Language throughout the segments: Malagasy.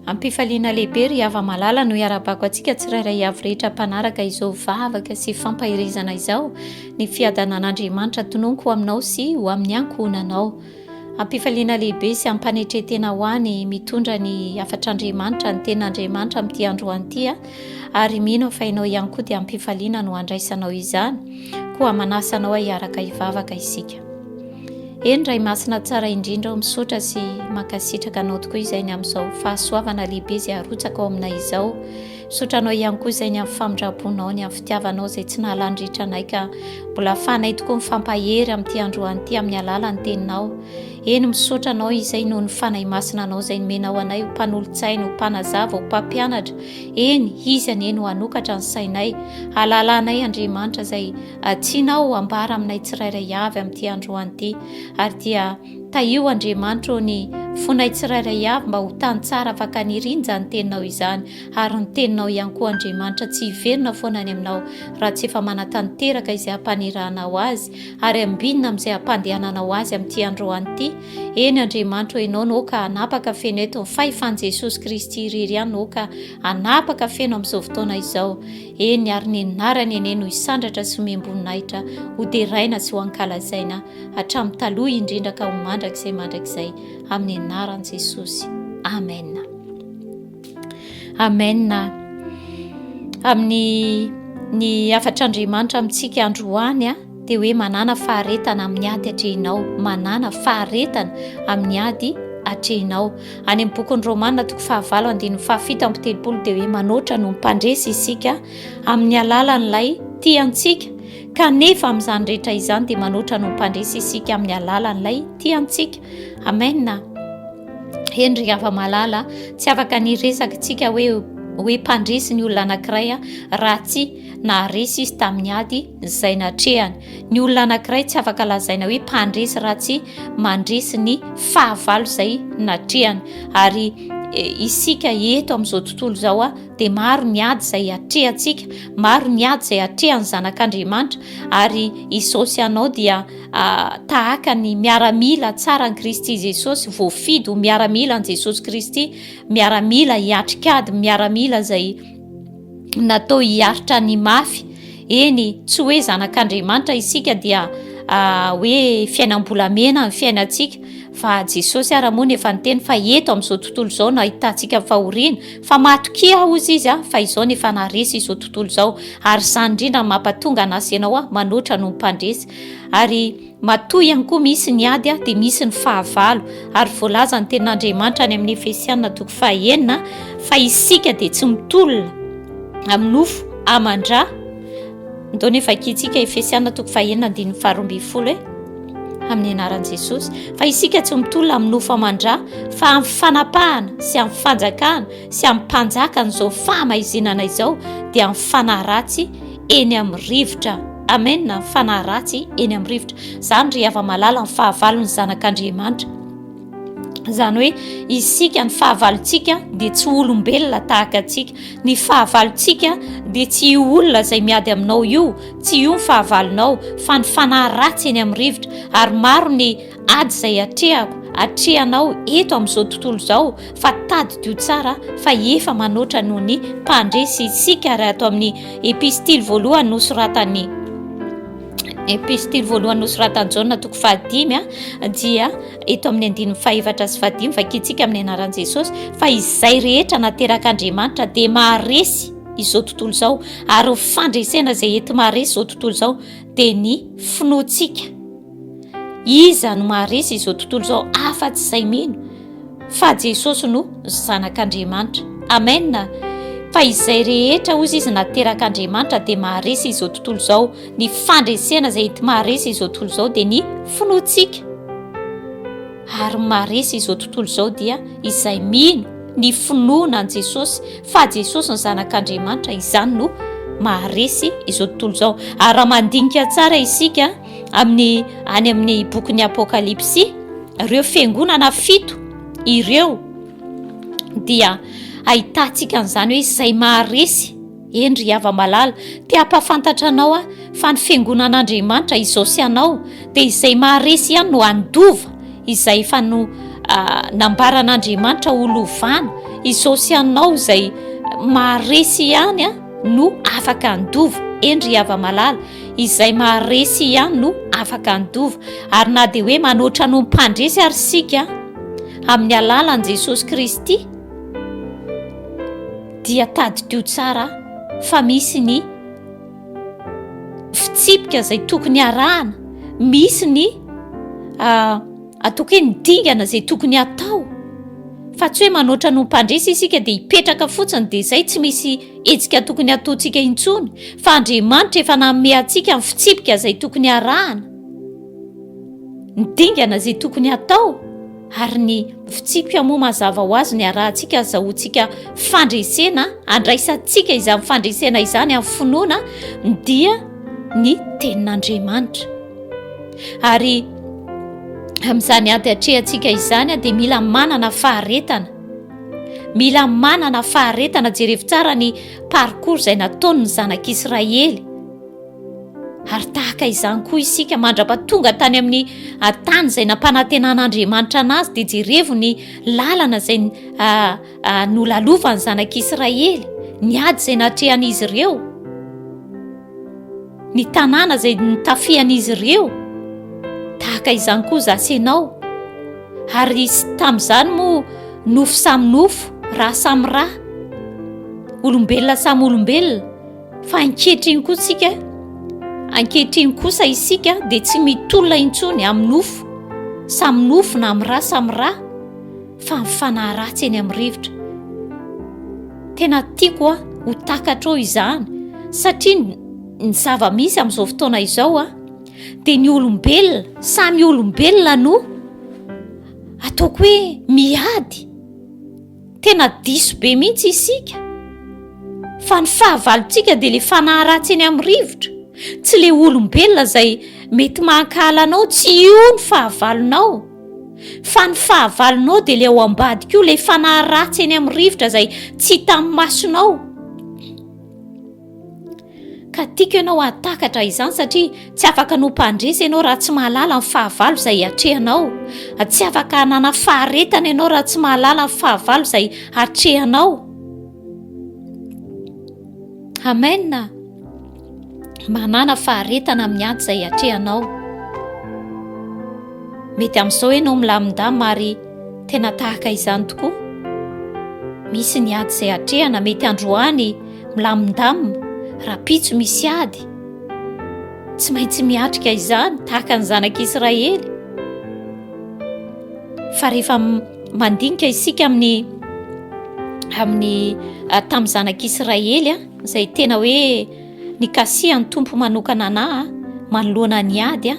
Ampifaliana lehibe ry hava-malala no iarabako antsika tsirairay avy rehetra mpanaraka izao vavaka sy fampaherezana izao ny fiadanan'Andriamanitra tononiko ho aminao sy ho amin'ny ankohonanao. Ampifaliana lehibe sy ampanetretena ho any mitondra ny hafatr'Andriamanitra ny tenin'Andriamanitra amin'ity androany ity ary mino fa ianao ihany koa dia ampifaliana no andraisanao izany koa manasa anao hiaraka hivavaka isika. Eny Ray Masina tsara indrindra o misaotra sy mankasitraka anao tokoa izay ny amin'izao fahasoavana lehibe izay arotsaka ao aminay izao misaotra anao ihany koa izay ny amin'ny famindramponao ny amin'ny fitiavanao izay tsy nahalandritra anay ka mbola afahanay tokoa mifampahery amin'ity androany ity amin'ny alalan'ny teninao eny misaotra anao izay noho ny fanahy masina anao izay nomenao anay ho mpanolotsaina ho mpanazava ho mpampianatra eny izy anie no hanokatra ny sainay halalanay Andriamanitra izay Atsina aho ambara aminay tsirairay avy amin'ity androany ity, ary dia tahio Andriamanitra ô ny fonay tsirairay avy mba ho tany tsara afaka niriny izany teninao izany, ary ny teninao ihany koa Andriamanitra tsy hiverina foana any aminao raha tsy efa manatanteraka izay hampanirahanao azy, ary ambinina amin'izay hampandehananao azy amin'ity androany ity, eny Andriamanitra ô ianao no ka hanapaka feno eto ny fahefan'i Jesosy Kristy irery ihany no ka hanapaka feno amin'izao fotoana izao. Eny, ary ny anarany anie no hisandratra sy homem-boninahitra, hoderaina sy hoankalazaina, hatramin'ny taloha indrindra ka ho mandrakizay mandrakizay, amin'ny anaran'i Jesosy. Amen. Amen. Amin'ny ny hafatr'Andriamanitra amintsika androany, dia hoe manàna faharetana amin'ny ady atrehinao, manàna faharetana amin'ny ady atrehinao. Any amin'ny bokin'ny Romana toko fahavalo andininy fahafito amby telopolo dia hoe manoatra no mpandresy isika amin'ny alalan'ilay tia antsika, kanefa amin'izany rehetra izany dia manoatra no mpandresy isika amin'ny alalan'ilay tia antsika. Amena. Heny ry hava-malala, tsy afaka ny resaka tsika hoe hoe mpandresy ny olona anankiray raha tsy naharesy izy tamin'ny ady izay natrehany. Ny olona anankiray tsy afaka lazaina hoe mpandresy raha tsy mandresy ny fahavalo izay natrehany. Ary e, isika eto amin'izao tontolo izao dia maro ny ady izay atrehantsika, maro ny ady izay atrehan'ny zanak'Andriamanitra ary izao sy anao dia tahaka ny miaramila tsara an'i Kristy Jesosy, voafidy ho miaramila an'i Jesosy Kristy, miaramila hiatrikady, miaramila izay natao hiaritra ny mafy. Eny, tsy hoe zanak'Andriamanitra isika dia ah, hoe fiainam-bolamena ny fiainantsika, fa Jesosy ara moa no efa niteny fa eto amin'izao tontolo izao no ahitantsika ny fahoriana, fa matokia aho hozy izy ah, fa izao no efa naharesy izao tontolo izao, ary izany indrindra no mampatonga an'asy ianao ah, manoatra noho ny mpandresy. Ary Matoa ihany koa misy ny ady dia misy ny fahavalo, ary voalazan'ny tenin'Andriamanitra any amin'ny Efesiana toko fahaenina fa isika dia tsy mitolona amin'ny nofo aman-dra. Ndao ny vakintsika Efesiana toko fahaenina andininy faharoa ambin'ny folo e amin'ny anaran'i Jesosy fa isika tsy mitolona amin'ny nofo aman-dra fa amin'ny fanapahana sy amin'ny fanjakana sy amin'ny mpanjakan'izao fahamaizinana izao dia amin'ny fanahy ratsy eny amin'ny rivotra amen ny fanahy ratsy eny amin'ny rivotra izany ry hava malala ny fahavalo ny zanak'andriamanitra izany hoe isika ny fahavalontsika dia tsy olombelona tahaka antsika ny fahavalontsika dia tsy io olona izay miady aminao io tsy io ny fahavalonao fa ny fanahy ratsy eny amin'ny rivotra ary maro ny Ady izay atrehako, atrehanao eto amin'izao tontolo izao fa tadidio tsara fa efa manoatra noho ny mpandresy isika ary ato amin'ny epistily voalohany nosoratan'ny epistily voalohany nosoratan'i Jaona toko fahadimy a dia eto amin'ny andininy fahefatra sy fahadimy vakintsika amin'ny anaran'i Jesosy fa izay rehetra naterak'Andriamanitra dia maharesy izao tontolo izao ary ny fandresena izay enti-maharesy izao tontolo izao dia ny finoantsika Iza no maharesy izao tontolo izao afa-tsy izay mino fa Jesosy no Zanak'Andriamanitra. Amena. Fa izay rehetra, hoy izy, naterak'Andriamanitra dia maharesy izao tontolo izao. Ny fandresena izay enti-maharesy izao tontolo izao dia ny finoantsika. Ary ny maharesy izao tontolo izao dia izay mino ny finoana an'i Jesosy fa Jesosy ny Zanak'Andriamanitra, izany no maharesy izao tontolo izao. Ary raha mandinika tsara isika, amin'ny any amin'ny bokin'ny apokalypsy ireo fiangonana fito ireo dia ahitantsika an'izany hoe izay maharesy endry hava malala te hampafantatra anao aho fa ny fiangonan'andriamanitra izao sy anao dia izay maharesy ihany no andova izay efa no ah, nambaran'andriamanitra ho lovana izao sy anao izay maharesy ihany a ah, no afaka andova endry hava malala Izay maharesy ihany no afaka handova, ary na dia hoe manoatra noho ny mpandresy ary isika amin'ny alalan'i Jesosy Kristy, dia tadidio tsara fa misy ny fitsipika izay tokony harahana, misy ny ah, ataoko hoe ny dingana izay tokony hatao, fa tsy hoe manoatra noho ny mpandresy isika dia hipetraka fotsiny dia izay tsy misy Hetsika tokony hataontsika intsony, fa Andriamanitra efa nanome antsika ny fitsipika izay tokony harahana, ny dingana izay tokony hatao, ary ny fitsipika moa mazava ho azy ny harahantsika, azahoantsika fandresena, andraisantsika izany fandresena izany amin'ny finoana dia ny tenin'Andriamanitra. Ary amin'izany ady atrehantsika izany dia mila manana faharetana. Mila manana faharetana, jerevo tsara ny parcours izay nataony ny zanak'i Israely. Ary tahaka izany koa isika mandra-pahatonga tany amin'ny tany izay nampanantenan'Andriamanitra anazy dia jerevo ny lalana izay ah, ah, nolalovany zanak'i Israely, ny ady izay natrehan'izy ireo. ny tanàna izay nitafian'izy ireo, tahaka izany koa za sy ianao, ary tamin'izany moa nofo samy nofo, ra samy ra, olombelona samy olombelona, fa ankehitriny koa tsika, ankehitriny kosa isika dia tsy mitolona intsony amin'ny nofo samy nofo na amin'ny ra samy ra, fa ny fanahy ratsy eny amin'ny rivotra. Tena tiako a, ho takatrao izany satria ny zava-misy amin'izao fotoana izao a, dia ny olombelona, samy olombelona no ataoko hoe miady. Tena diso be mihitsy isika fa ny fahavalontsika dia le fanahy ratsy eny amin'ny rivotra, tsy le olombelona izay mety mankahala anao, tsy io ny fahavalonao. Fa ny fahavalonao dia ilay ao ambadika io, ilay fanahy ratsy eny amin'ny rivotra izay tsy hita amin'ny masonao. Ka tiako ianao hahatakatra izany satria tsy afaka no mpandresy ianao raha tsy mahalala ny fahavalo izay hatrehanao. Tsy afaka hanana faharetana ianao raha tsy mahalala ny fahavalo izay hatrehanao. Amen. manana faharetana amin'ny ady izay atrehanao. Mety amin'izao ianao milamindama ary tena tahaka izany tokoa. Misy ny ady izay atrehana, mety androany milamindama, rapitso misy ady. Tsy maintsy miatrika izany tahaka ny zanak'Israely. Fa rehefa mandinika isika amin'ny amin'ny ah, tamin'ny zanak'Israely a. Ah, izay tena hoe nikasihan'ny Tompo manokana anah manoloana ny ady a,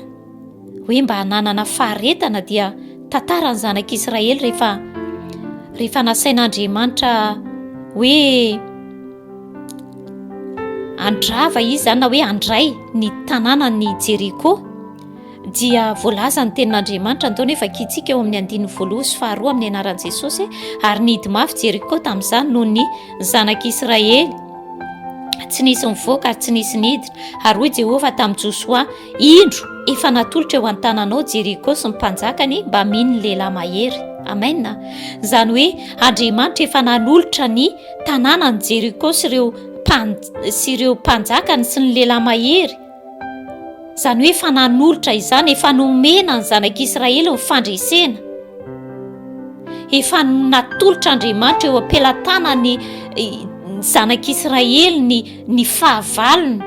hoe mba nanana faharetana dia tantara ny zanak'Israely rehefa rehefa nasain'Andriamanitra hoe andrava izy zany na hoe andray ny tanànan'i Jeriko. dia voalaza ny tenin'Andriamanitra nataony hoe vakintsika eo amin'ny andininy voaloha sy faharoa amin'ny anaran'i Jesosy ary nihidy mafy Jeriko tamin'izany noho ny zanak'Israely tsy nisy mivoaka ary tsy nisy nidina ary hoy Jehovah tamin'i Josoa indro efa natolotra eo an-tananao Jeriko sy ny mpanjakany mba mino lehilahy mahery amen izany hoe Andriamanitra efa nanolotra ny tanànan'i Jeriko sy ireo sy ireo mpanjakany sy ny lehilahy mahery izany hoe efa nanolotra izany, efa nomena ny zanak'Israely ny fandresena, efa natolotra Andriamanitra eo am-pelatanany ny zanak'Israely ny ny fahavalony,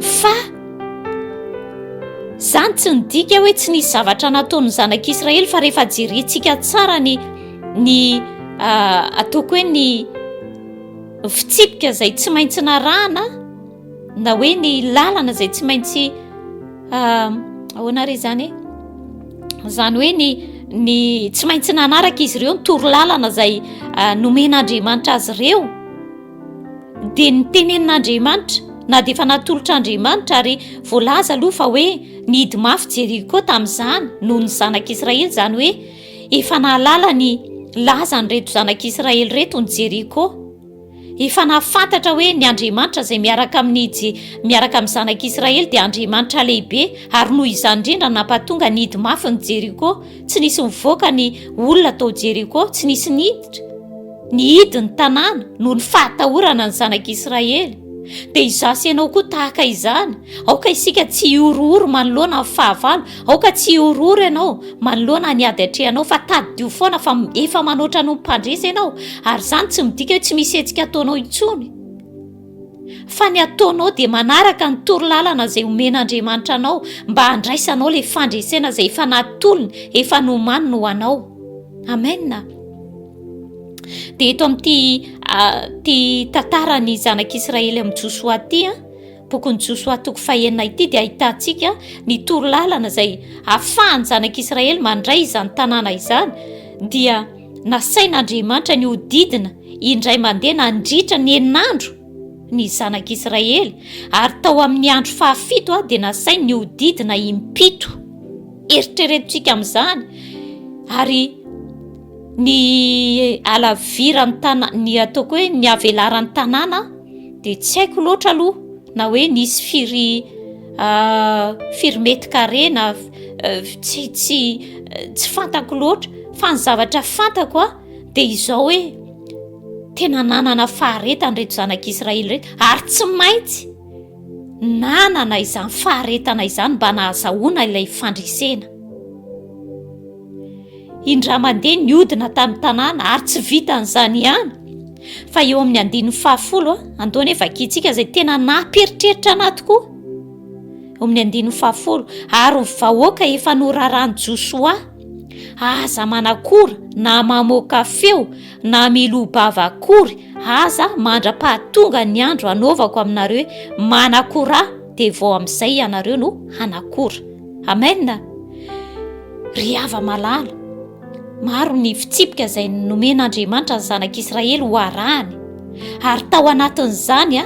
fa izany tsy nidika hoe tsy nisy zavatra nataon'ny zanak'Israely fa rehefa jerentsika tsara ny ny ah, ataoko hoe ny fitsipika izay tsy maintsy narahana na hoe ny lalana izay tsy maintsy ah, ahoana ary izany e izany hoe ny ny tsy maintsy nanaraka izy ireo ny toro lalana izay ah, nomen'andriamanitra azy ireo dia ny tenenin'andriamanitra na dia efa natolotra andriamanitra ary voalaza aloha fa hoe ny hidi mafy jeriko tamin'izany noho ny zanak'israely izany hoe Efa nahalala ny lazan'ireto zanak'Israely ireto ny Jeriko. Efa nahafantatra hoe ny Andriamanitra izay miaraka amin'ny Je- miaraka amin'ny zanak'Israely dia Andriamanitra lehibe ary noho izany indrindra nampatonga nidy mafy ny Jeriko. Tsy nisy nivoaka ny olona tao Jeriko, tsy nisy niditra nihidy ny tanàna noho ny fahatahorana ny zanak'Israely. Dia izaho sy ianao koa tahaka izany. Aoka isika tsy hihorohoro manoloana ny fahavalo Aoka tsy hihorohoro ianao manoloana ny ady atrehanao, fa tadidio foana fa efa manoatra noho ny mpandresy ianao, ary izany tsy midika hoe tsy misy hetsika ataonao intsony, fa ny ataonao dia manaraka ny toro lalana izay omen'Andriamanitra anao mba handraisanao ilay fandresena izay efa natolony, efa nomaniny ho anao. Amena. Dia eto amin'ity ah, ty tantaran'ny zanak'Israely amin'i Josoa ty, ah, Bokin'i Josoa toko fahenina ity dia ahitantsika ny toro lalana izay ahafahan'ny zanak'i Israely mandray izany tanàna izany dia nasain'Andriamanitra ny hodidina indray mandeha nandritra ny enin'andro ny zanak'i Israely ary tao amin'ny andro fahafito dia nasainy ny hodidina impito eritreretontsika amin'izany ary Ny alaviran'ny tanàna, ny ataoko hoe ny avelaran'ny tanàna dia tsy haiko loatra aloha na hoe nisy firy ah, firy mety kare na eh, tsy tsy eh, tsy fantako loatra fa ny zavatra fantako a dia izao hoe tena nanana faharetany reto zanak'Israely reto ary tsy maintsy nanana izany faharetana izany mba nahazahoana ilay fandresena. Indray mandeha niodina tamin'ny tanàna ary tsy vitan'izany ihany fa eo amin'ny andininy fahafolo andoha nefa vakintsika izay tena namperitreritra anahy tokoa eo amin'ny andininy fahafolo ary ny vahoaka efa norarany josoa aza manakora na mamoaka feo na milobava akory aza mandra-pahatonga ny andro anaovako aminareo manakora dia vao amin'izay ianareo no hanakora. Amen! Ry hava malala, maro ny fitsipika izay nomen'Andriamanitra ny zanak'Israely ho arahany, ary tao anatin'izany a,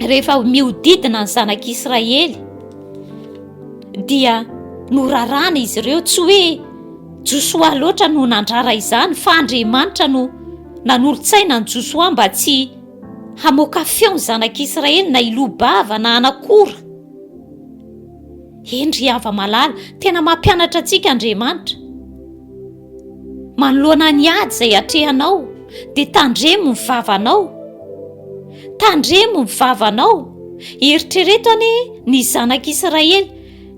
rehefa miodidina ny zanak'Israely, dia norarana izy ireo, tsy hoe Josoa loatra no nandrara izany, fa Andriamanitra no nanolotsaina ny Josoa mba tsy hamoaka feo ny zanak'Israely na hiloa-bava na hanakora. Eny ry hava malala, tena mampianatra antsika Andriamanitra. Manoloana ny ady izay atrehanao, dia tandremo ny vavanao. Tandremo ny vavanao. Eritrereto ane ny zanak'Israely,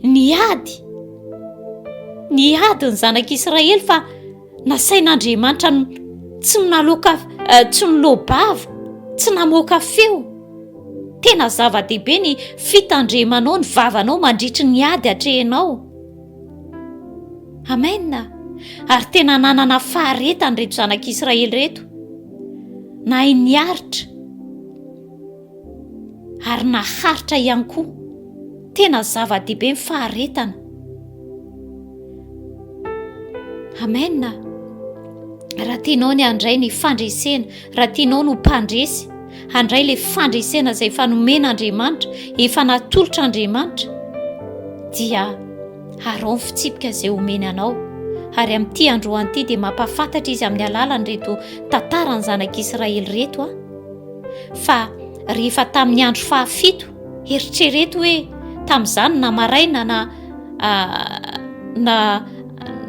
ny ady. Ny ady ny zanak'Israely fa Nasain'Andriamanitra ny tsy naloka eh, tsy nilobava, tsy namoaka feo. Tena zava-dehibe ny fitandremanao ny vavanao mandritry ny ady atrehinao. Amen. Ary tena nanana faharetany reto zanak'Israely reto. Nahay niaritra. ary naharitra ihany koa tena zava-dehibe ny faharetana amena raha tianao ny handray ny fandresena raha tianao no mpandresy handray ilay fandresena izay efa nomena andriamanitra efa natolotra andriamanitra dia harao ny fitsipika izay homeny anao ary amin'ity androany ity dia mampafantatra izy amin'ny alalan'ireto tantaran'ny zanak'israely reto a Fa rehefa tamin'ny andro fahafito, eritrereto hoe tamin'izany na maraina na na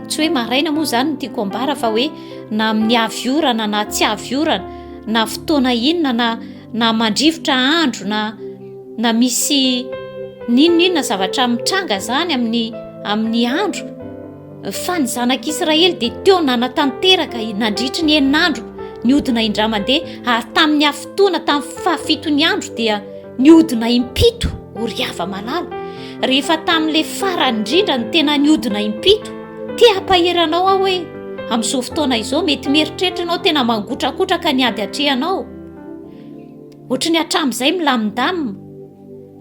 tsy hoe maraina moa izany no tiako ambara fa hoe na amin'ny avy orana na tsy avy orana na fotoana inona na na mandrivotra andro na na misy n'inon'inona zavatra mitranga izany amin'ny amin'ny andro Fa ny zanak'Israely dia teo nanatanteraka nandritry ny enin'andro ny odina indray mandeha, ary tamin'ny hafotoana tamin'ny fahafiton'ny andro dia niodina impito oriava malala. Rehefa tamin'ilay farany indrindra no tena niodina impito, te hampahery anao aho hoe amin'izao fotoana izao mety mieritreritra ianao tena mangotrakotraka ny ady atrehanao. Ohatry ny hatramin'izay milamindamina.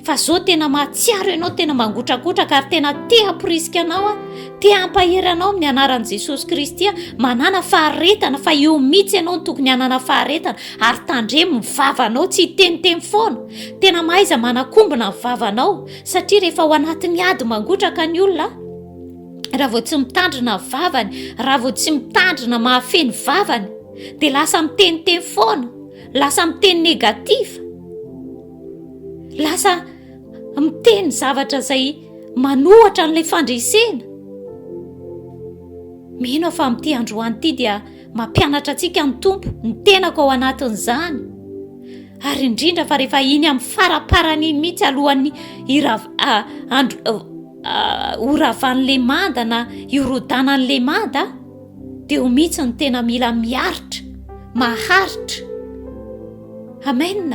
fa zao tena mahatsiaro ianao tena mangotrakotraka ary tena te hamporisika anao a te hampahery anao amin'ny anaran'i jesosy kristy a manana faharetana fa eo mihitsy ianao no tokony hanana faharetana ary tandremo ny vavanao tsy hiteniteny foana tena mahaiza manakombona ny vavanao satria rehefa ao anatin'ny ady mangotraka ny olona raha vao tsy mitandrina ny vavany raha vao tsy mitandrina mahafehy ny vavany dia lasa miteniteny foana lasa miteny negatif Lasa miteny zavatra izay manohatra an'ilay fandresena. Mino aho fa amin'ity androany ity dia mampianatra antsika ny Tompo ny tenako ao anatin'izany. Ary indrindra fa rehefa iny amin'ny faraparany iny mihitsy alohan'ny irav andro horavan'ny lemanda na hiorodànan'ny lemanda. Teo mihitsy ny tena mila miaritra, maharitra. Amen!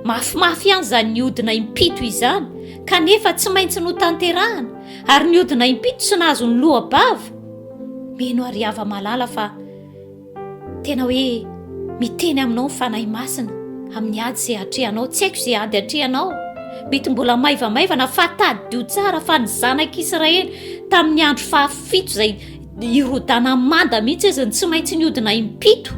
Mafimafy ihany izany nihodina impito izany, kanefa tsy maintsy notanterahana, ary nihodina impito tsy nahazo ny loha-bava. Mino aho ry hava-malala fa tena hoe miteny aminao ny Fanahy Masina amin'ny ady izay atrehanao. Tsy haiko izay ady atrehanao. Mety mbola maivamaivana fa tadidio tsara fa ny zanak'Israely tamin'ny andro fahafito izay i rodana manda mihitsy izy ny tsy maintsy niodina impito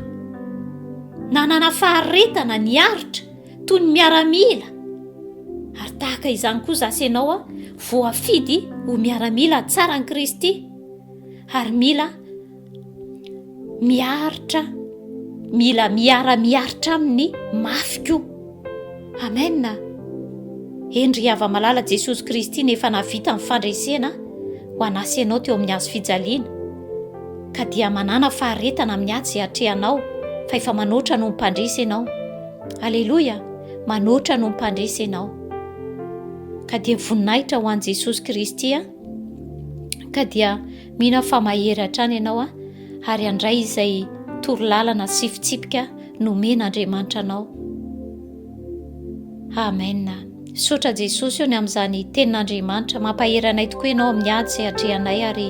nanana faharetana ny aritra toy ny miaramila ary tahaka izany koa zasy ianao a voafidy ho miaramila tsara ny kristy ary mila miaritra mila miara-miaritra amin'ny mafy koa Amen Hendry Hava Malala Jesosy Kristy no efa nahavita ny fandresena ho an'asa ianao teo amin'ny hazo fijaliana ka dia manàna faharetana amin'ny atsy atrehanao fa efa manoatra noho ny mpandresy ianao Aleloia manoatra noho ny mpandresy ianao ka dia voninahitra ho an'i Jesosy Kristy ka dia Mino aho fa mahery hatrany ianao a, ary handray izay toro lalana sy fitsipika nomen Andriamanitra anao. Amen. Sotra Jesosy eo ny amin'izany tenin'Andriamanitra. Mampahery anay tokoa ianao amin'ny ady izay atrehanay ary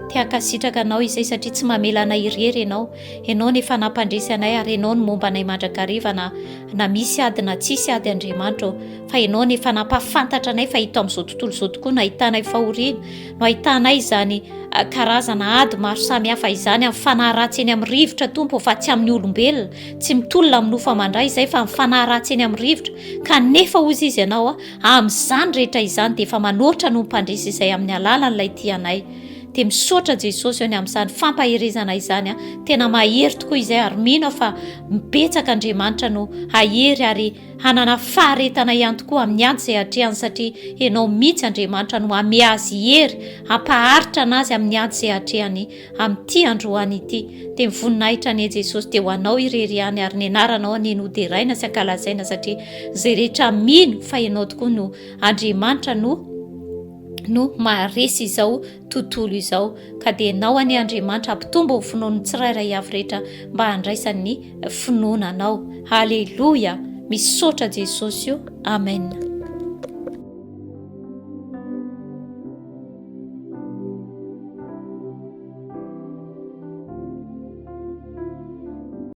te hankasitraka anao izay satria tsy mamela anay irery ianao. Ianao no efa nampandresy anay ary ianao no momba anay mandrakariva na na misy ady na tsisy ady Andriamanitra ô. Fa ianao no efa nampahafantatra anay fa ito amin'izao tontolo izao tokoa no ahitanay fahoriana. no ahitanay izany karazana ady maro samihafa izany amin'ny fanahy ratsy eny amin'ny rivotra tompo fa tsy amin'ny olombelona tsy mitolona amin'ny nofa mandray izay fa amin'ny fanahy ratsy eny amin'ny rivotra kanefa hozy izy ianao a amin'izany rehetra izany dia efa manoatra no mpandresy izay amin'ny alalan'ilay tianay dia misaotra jesosy any amin'izany fampaherezana izany a tena mahery tokoa izay ary mino aho fa mibetsaka andriamanitra no hahery ary hanana faharetana ihany tokoa amin'ny ady izay atrehany satria ianao mihitsy Andriamanitra no hame azy hery hampaharitra anazy amin'ny ady izay atrehany amin'ity androany ity dia ny voninahitra anie Jesosy dia ho anao irery ihany ary ny anaranao anie no deraina sy ankalazaina satria izay rehetra mino fa ianao tokoa no Andriamanitra no no maharesy izao tontolo izao, ka dia enao anie Andriamanitra hampitombo ny finoan'ny tsirairay avy rehetra mba handraisany ny finoana anao. Aleloia! Misaotra Jesosy o! Amen.